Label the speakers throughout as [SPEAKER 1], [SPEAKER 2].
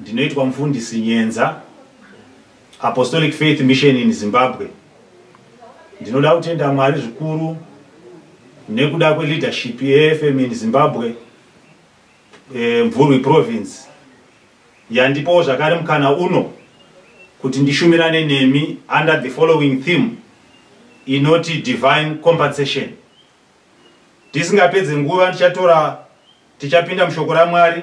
[SPEAKER 1] Ndinoitwa mufundisi Nyenza, Apostolic Faith Mission in Zimbabwe. Ndinoda kutenda Mwari zvikuru nekuda kweleadership yeFM in Zimbabwe, eh, Mvurwi Province, yandipowo zvakare mukana uno kuti ndishumirane nemi under the following theme inoti divine compensation. Tisingapedze nguva ndichatora tichapinda mushoko raMwari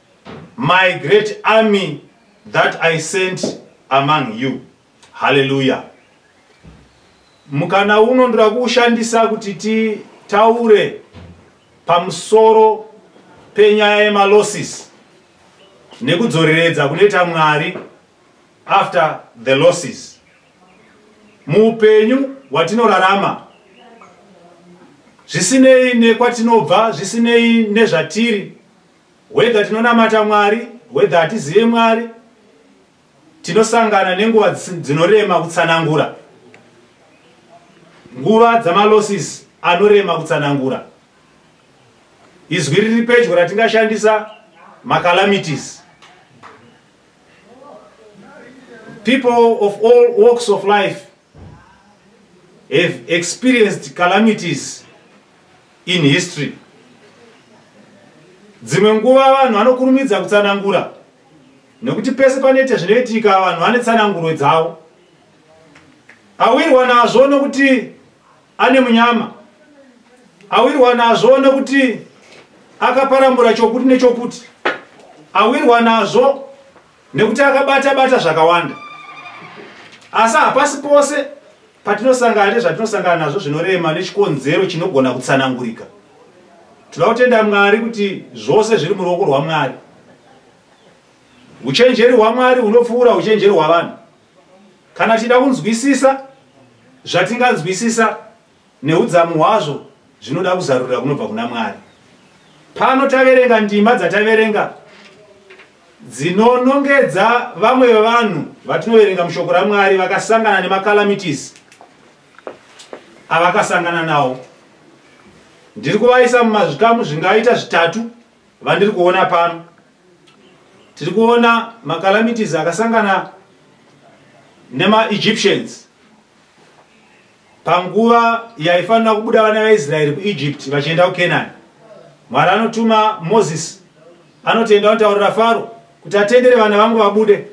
[SPEAKER 1] My great army that I sent among you. Hallelujah. Mukana uno ndira kushandisa kuti titaure pamusoro penyaya yemalosses nekudzoreredza kunoita Mwari after the losses. Muupenyu watinorarama zvisinei nekwatinobva zvisinei nezvatiri Whether tinonamata Mwari, whether hatizive Mwari, tinosangana nenguva dzinorema kutsanangura. Nguva dzamalosses anorema kutsanangura. Izwi riri pedyo ratingashandisa macalamities. People of all walks of life have experienced calamities in history dzimwe nguva vanhu vanokurumidza kutsanangura nekuti pese panoita zvinoitika vanhu vane tsananguro dzavo awirwa nazvo nokuti ane munyama awirwa nazvo nokuti akaparambura chokuti nechokuti awirwa nazvo nekuti akabata bata zvakawanda asi hapasi pose patinosangana nezvatinosangana nazvo zvinorema nechikonzero chinogona kutsanangurika tinoda kutenda mwari kuti zvose zviri muruoko rwamwari uchenjeri hwamwari hunopfuura uchenjeri hwavanhu kana tichida kunzwisisa zvatinganzwisisa Nehudzamu hwazvo zvinoda kuzarurira kunobva kuna Mwari. Pano taverenga ndima dzataverenga dzinonongedza vamwe vevanhu vatinoverenga mushoko raMwari vakasangana nemacalamities avakasangana nawo. Ndiri kuvaisa mumazvikamu zvingaita zvitatu vandiri kuona pano. Tiri kuona macalamities akasangana nemaEgyptians. Panguva yaifanira kubuda vana vaIsraeri kuEgypt vachienda kuKenani, Mwari anotuma Mozisi anotoenda anotaurira Faro kuti atendere vana vangu vabude.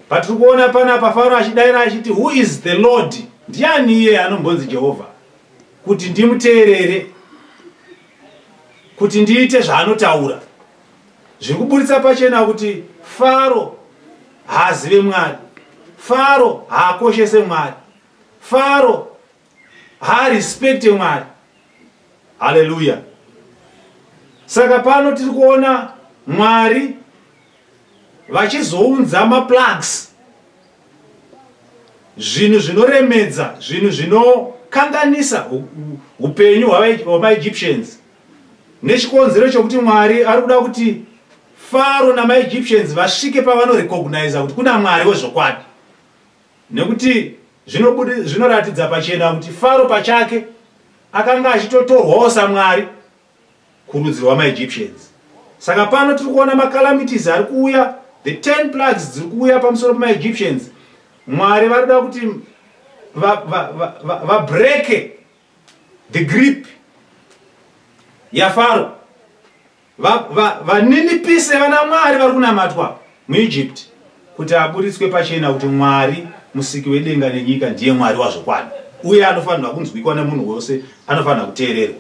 [SPEAKER 1] Patiri kuona panapa Faro achidaira achiti, Who is the Lord? Ndiani iye anombonzi Jehovha? Kuti ndimuteerere, kuti ndiite zvaanotaura. Zviri kuburitsa pachena kuti Faro haazive Mwari. Faro haakoshese Mwari. faro haarespecte mwari haleluya saka pano tiri kuona mwari vachizounza maplugs zvinhu zvinoremedza zvinhu zvinokanganisa upenyu hwamaegyptians nechikonzero chokuti mwari ari kuda kuti faro namaegyptians vasvike pavanorecogniza kuti kuna mwari wezvokwadi Nekuti zvinoratidza pachena kuti Faro pachake akanga achitotorwawo saMwari kurudzi rwamaEgyptians. Saka pano tiri kuona macalamities ari kuuya, the ten plugs dziri kuuya pamusoro pemaEgyptians. Mwari vari kuda kuti vabreke the grip yaFaro. vaninipise va, va vana mwari vari kunamatwa muegypt kuti aburitswe pachena kuti mwari musiki wedenga nenyika ndiye mwari wazvokwadi uye anofanirwa kunzwikwa nemunhu wose anofanira kuteererwa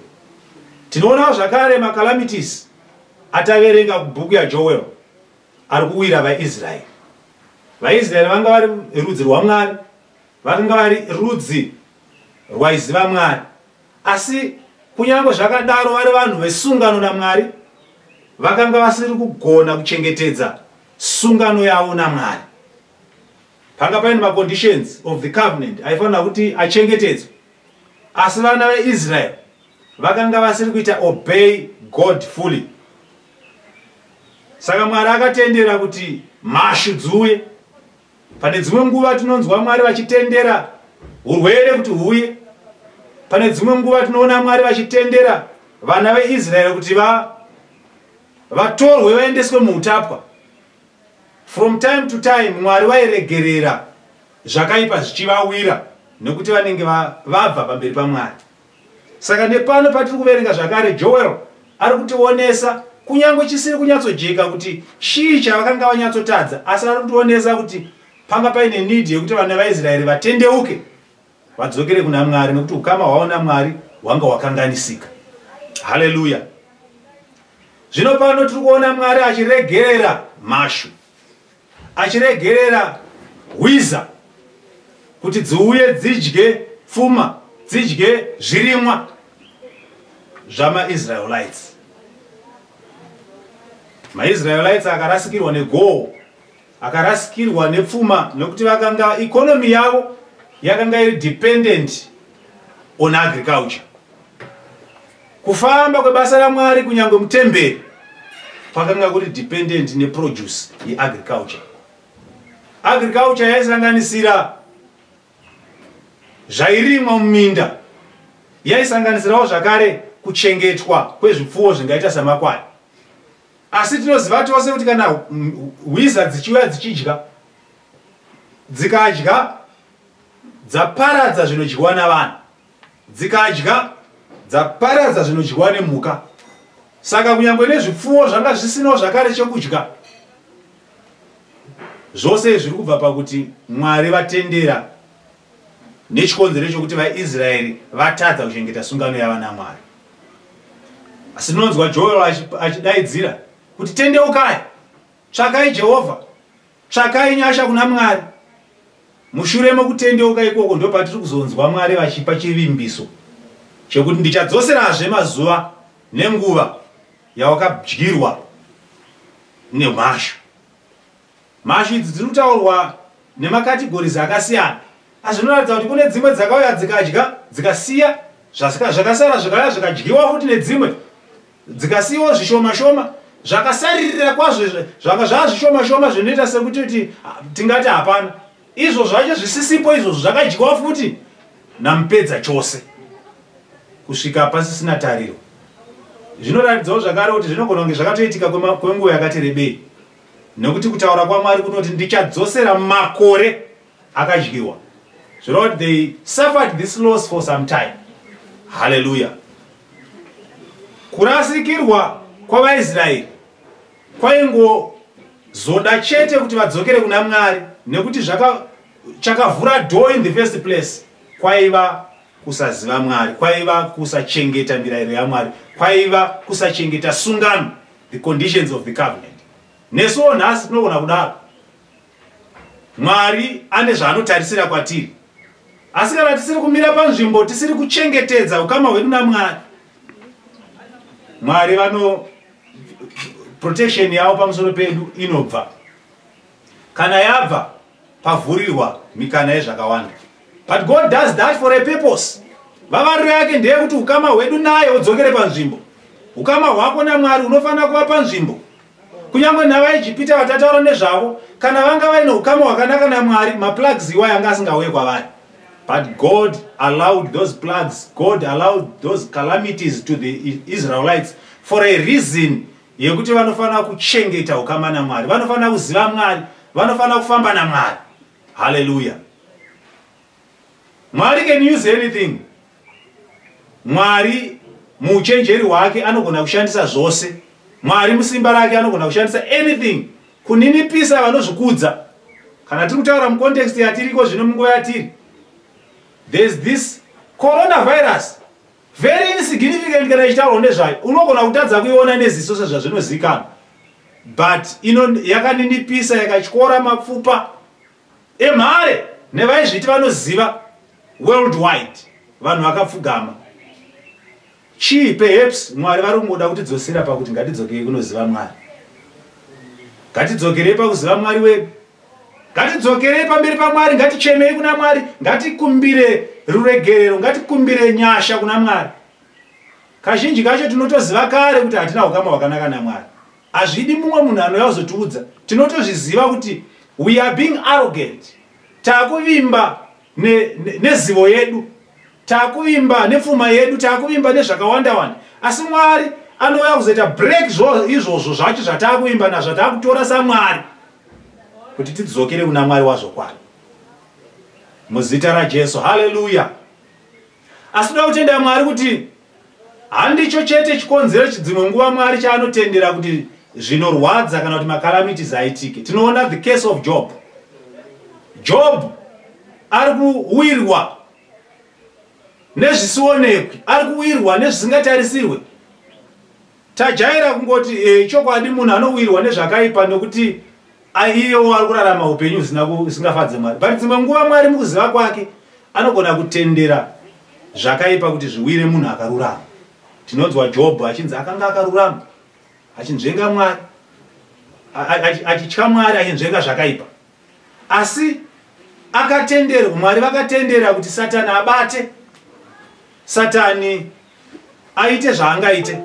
[SPEAKER 1] tinoonawo zvakare macalamities ataverenga kubhuku yajoel ari kuwira vaisraeri vaisraeri vanga vari rudzi rwamwari vakanga vari rudzi rwaiziva mwari Asi kunyange zvakadaro, vari vanhu vesungano naMwari vakanga vasiri kugona kuchengetedza sungano yavo naMwari. Panga paine maconditions of the covenant aifanira kuti achengetedzwe, asi vana veIsrael vakanga vasiri kuita obey God fully. Saka Mwari akatendera kuti mhashu dziuye. Pane dzimwe nguva tinonzwa Mwari vachitendera hurwere kuti huuye. Pane dzimwe nguva tinoona Mwari vachitendera vana veIsraeri kuti va vatorwe vaendeswe muutapwa. From time to time Mwari vairegerera zvakaipa zvichivawira nekuti vanenge vabva pamberi paMwari. Saka nepano patiri kuverenga zvakare, Joel ari kutionesa kunyange chisiri kunyatsojeka kuti chii chavakanga vanyatsotadza, asi ari kutionesa kuti panga paine nidhi yekuti vana vaIsraeri vatendeuke vadzokere kuna Mwari nekuti ukama hwavo naMwari hwanga hwakanganisika. Haleluya! Zvino pano tiri kuona Mwari achiregerera mhashu. achiregerera hwiza kuti dziuye dzidye pfuma dzidye zvirimwa zvamaisraelites maisraelites akarasikirwa negoho akarasikirwa nepfuma nekuti vakanga ikonomi yavo yakanga iri dependent on agriculture Kufamba kwebasa raMwari kunyange mutemberi kwakanga kuri dependent neproduce yeagriculture. Agriculture yaisanganisira zvairimwa muminda, yaisanganisirawo zvakare kuchengetwa kwezvipfuwo zvingaita samakwai. Asi tinoziva tose kuti kana hwiza dzichiuya dzichidya, dzikadya dzaparadza zvinodyiwa navanhu, Dzikadya, dzaparadza zvinodyiwa nemhuka. Saka kunyangwe nezvipfuwo zvanga zvisinawo zvakare chekudya. Zvose zviri kubva pakuti Mwari vatendera nechikonzero chokuti vaIsraeri vatadza kuchengeta sungano yava naMwari. Asi tinonzwa Joel achidaidzira kuti tendeukai Tsvakai Jehovha, tsvakai nyasha kuna Mwari. Mushure mokutendeuka ikoko, ndopatiri kuzonzwa Mwari vachipa chivimbiso chekuti ndichadzoserazve mazuva nenguva yawakadyirwa nemhashu. Mhashu idzi dziri kutaurwa nemakategorizi akasiyana, asi zvinoratidza kuti kune dzimwe dzakauya dzikadya dzikasiya zvakasara zvikauya zvikadyiwa futi nedzimwe dzikasiyiwo zvishoma shoma zvakasaririra kwazvo zvanga zvava zvishoma shoma zvinoita sekuti tingati hapana izvo zvacho zvisisipo izvozvo zvakadyiwa futi namupedza chose kusvika pasisina tariro zvinoratidzawo zvakare kuti zvinogona kunge zvakatoitika kwenguva yakati rebei nekuti kutaura kwamwari kunoti ndichadzosera makore akadyiwa zvireva kuti they suffered this loss for some time haleluya kurasikirwa kwavaisraeri kwaingozoda chete kuti vadzokere kuna mwari nekuti chakavhura do in the first place kwaiva kusaziva mwari kwaiva kusachengeta mirayiro yamwari kwaiva kusachengeta sungano the conditions of the covenant nesuwo nhasi tinogona kudaro Mwari ane zvaanotarisira kwatiri. Asi kana tisiri kumira panzvimbo, tisiri kuchengetedza ukama hwedu naMwari, Mwari vano protection yavo pamusoro pedu inobva. Kana yabva, pavhurirwa mikana yezvakawanda. But God does that for a purpose. Vavariro yake ndeye kuti ukama hwedu naye udzokere panzvimbo. Ukama hwako naMwari unofanira kuva panzvimbo. Kunyange navaIjipita vatataura nezvavo, kana vanga vaine ukama hwakanaka naMwari, maplagues iwayo anga asingauye kwavari. But God allowed those plagues, God allowed those calamities to the Israelites for a reason yekuti vanofanira kuchengeta ukama naMwari, vanofanira kuziva Mwari, vanofanira kufamba naMwari. Hallelujah. Mwari can use anything. Mwari muuchenjeri hwake anogona kushandisa zvose. Mwari musimba rake anogona kushandisa anything kuninipisa vanozvikudza. Kana tiri kutaura mucontext yatiriko zvino munguva yatiri, there's this coronavirus very insignificant kana ichitaurwa nezvayo unogona kutadza kuiona neziso sezvazvinozikanwa but ino yakaninipisa yakatyora mapfupa Emhare nevaizviti vanoziva worldwide vanhu vakapfugama. Chii perhaps Mwari vari kungoda kutidzosera pakuti ngatidzokei kunoziva Mwari. Ngatidzokerei pakuziva Mwari wedu. Ngatidzokerei pamberi paMwari, ngatichemei kuna Mwari, ngatikumbire ruregerero, ngatikumbire nyasha kuna Mwari. Kazhinji kacho tinotoziva kare kuti hatina ukama hwakanaka naMwari. Hazvidi mumwe munhu anouya kuzotiudza. Tinotozviziva kuti we are being arrogant. Takuvimba nezivo yedu. Takuvimba nepfuma yedu, takuvimba nezvakawanda wanda. Asi Mwari anouya kuzoita break izvozvo zvacho zvatakuvimba na zvatakutora sa Mwari kuti tidzokere kuna Mwari wazvokwadi. Muzita raJesu. Hallelujah. Asi toda kutenda Mwari kuti handicho chete chikonzero chidzimwe nguva Mwari chaanotendera kuti zvinorwadza kana kuti makalamitis aitike. Tinoona the case of Job. Job ari kuwirwa nezvisionekwi, ari kuwirwa nezvisingatarisirwe. Tajaira kungoti eh, chokwadi munhu anowirwa nezvakaipa nokuti aiyewo ari kurarama upenyu zvisingafadze Mwari. But dzimwe nguva Mwari mukuziva kwake anogona kutendera zvakaipa kuti zviwire munhu akarurama. Tinonzwa Jobho achinzi akanga akarurama achinzvenga Mwari achitya Mwari achinzvenga zvakaipa. asi akatenderwa mwari vakatendera kuti satani abate satani aite zvaangaite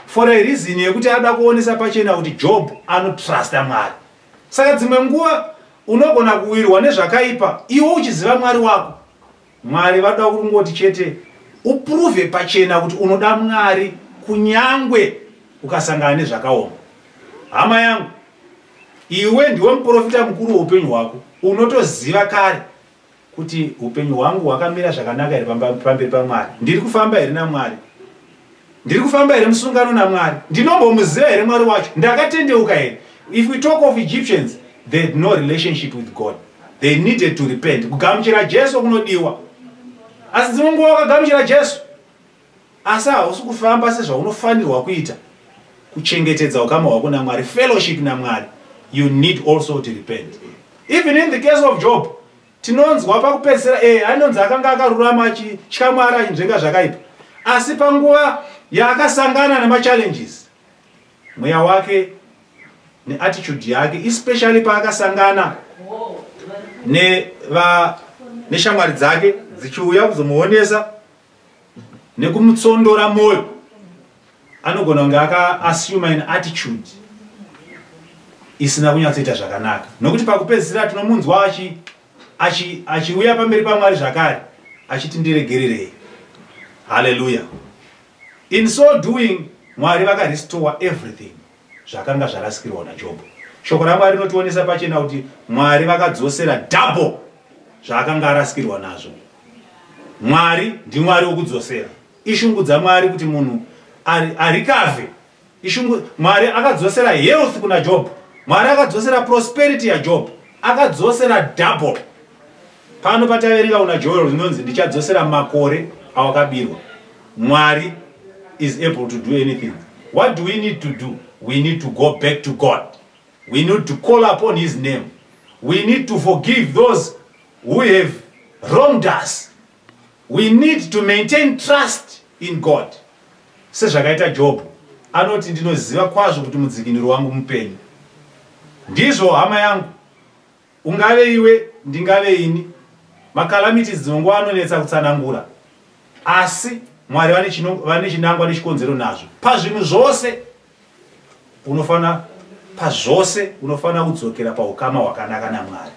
[SPEAKER 1] for a reason yekuti ada kuonesa pachena kuti job anotrusta mwari saka dzimwe nguva unogona kuwirwa nezvakaipa iwe uchiziva mwari wako Mwari vanoda kungoti chete uprove pachena kuti unoda Mwari kunyangwe ukasangana nezvakaoma. Hama yangu, iwe ndiwe muprofita mukuru weupenyu hwako. Unotoziva kare kuti upenyu hwangu hwakamira zvakanaka here pamberi paMwari? Ndiri kufamba here naMwari? ndiri kufamba here musungano namwari ndinombomuziva here mwari wacho ndakatendeuka here if we talk of egyptians they had no relationship with god they needed to repent kugamuchira jesu kunodiwa asi dzimwe nguva wakagamuchira jesu asi hausi kufamba sezvaunofanirwa kuita kuchengetedza ukama hwako namwari fellowship namwari you need also to repent even in the case of job Tinonzwa pakupedzisira eh, ainonzi akanga akarurama achitya Mwari achinzvenga zvakaipa, asi panguva yaakasangana nemachallenges, mweya wake neattitude yake, especially paakasangana neshamwari dzake dzichiuya kuzomuonesa nekumutsondora moyo anogona kunge akaassume an attitude isina kunyatsoita zvakanaka nokuti pakupedzisira tinomunzwa achiuya pamberi pamwari zvakare achiti ndiregererei haleluya in so doing mwari vakarestore everything zvakanga zvarasikirwa naJobho. Shoko raMwari rinotionesa pachena kuti Mwari vakadzosera double zvaakanga arasikirwa nazvo. Mwari ndiMwari wokudzosera. Ishungu dzaMwari kuti munhu arikave. Ishungu Mwari akadzosera health kuna Job. Mwari akadzosera prosperity yaJob. Akadzosera double. Pano pataverenga kuna Joel rinonzi ndichadzosera makore awakabirwa. Mwari is able to do anything. What do we need to do? We need to go back to God. We need to call upon his name. We need to forgive those who have wronged us. We need to maintain trust in God. Sezvakaita Job anoti ndinoziva kwazvo kuti mudzikiniro wangu mupenyu. Ndizvo hama yangu Ungave iwe, ndingave ini. Macalamities dzimwe nguva anonetsa kutsanangura. Asi Mwari vane chinangwa nechikonzero nazvo. Pazvinhu zvose unofanira pazvose unofanira kudzokera paukama hwakanaka naMwari.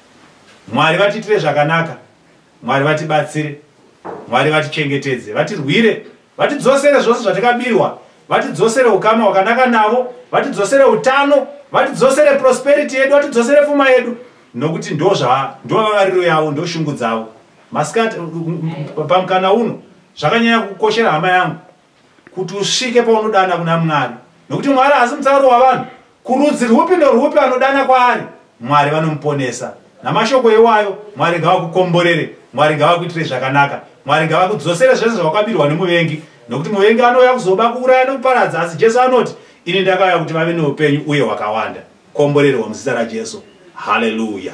[SPEAKER 1] Mwari vatiitire zvakanaka. Mwari vatibatsire. Mwari vatichengetedze, vatirwire. Vatidzosere zvose zvatakabirwa, vatidzosere ukama hwakanaka navo, vatidzosere utano, vatidzosere prosperity yedu, vatidzosere pfuma yedu nokuti ndozva ndovavariro yavo ndoshungu dzavo. Masikati pamkana uno zvakanyanya kukoshera hama yangu kuti usvike paunodana kuna Mwari nokuti Mwari haasi mutsauri wavanhu Kurudzi rwupi norwupi anodana kwaari, Mwari vanomuponesa. Namashoko iwayo, Mwari ngavakukomborere, Mwari ngavakuitire zvakanaka, Mwari ngavakudzosere zvese zvawakabirwa nemuvengi, nokuti muvengi anouya kuzoba, kuuraya nokuparadza, asi Jesu anoti, Ini ndakauya kuti vave noupenyu uye hwakawanda. Komborerwa muzita raJesu. Haleluya!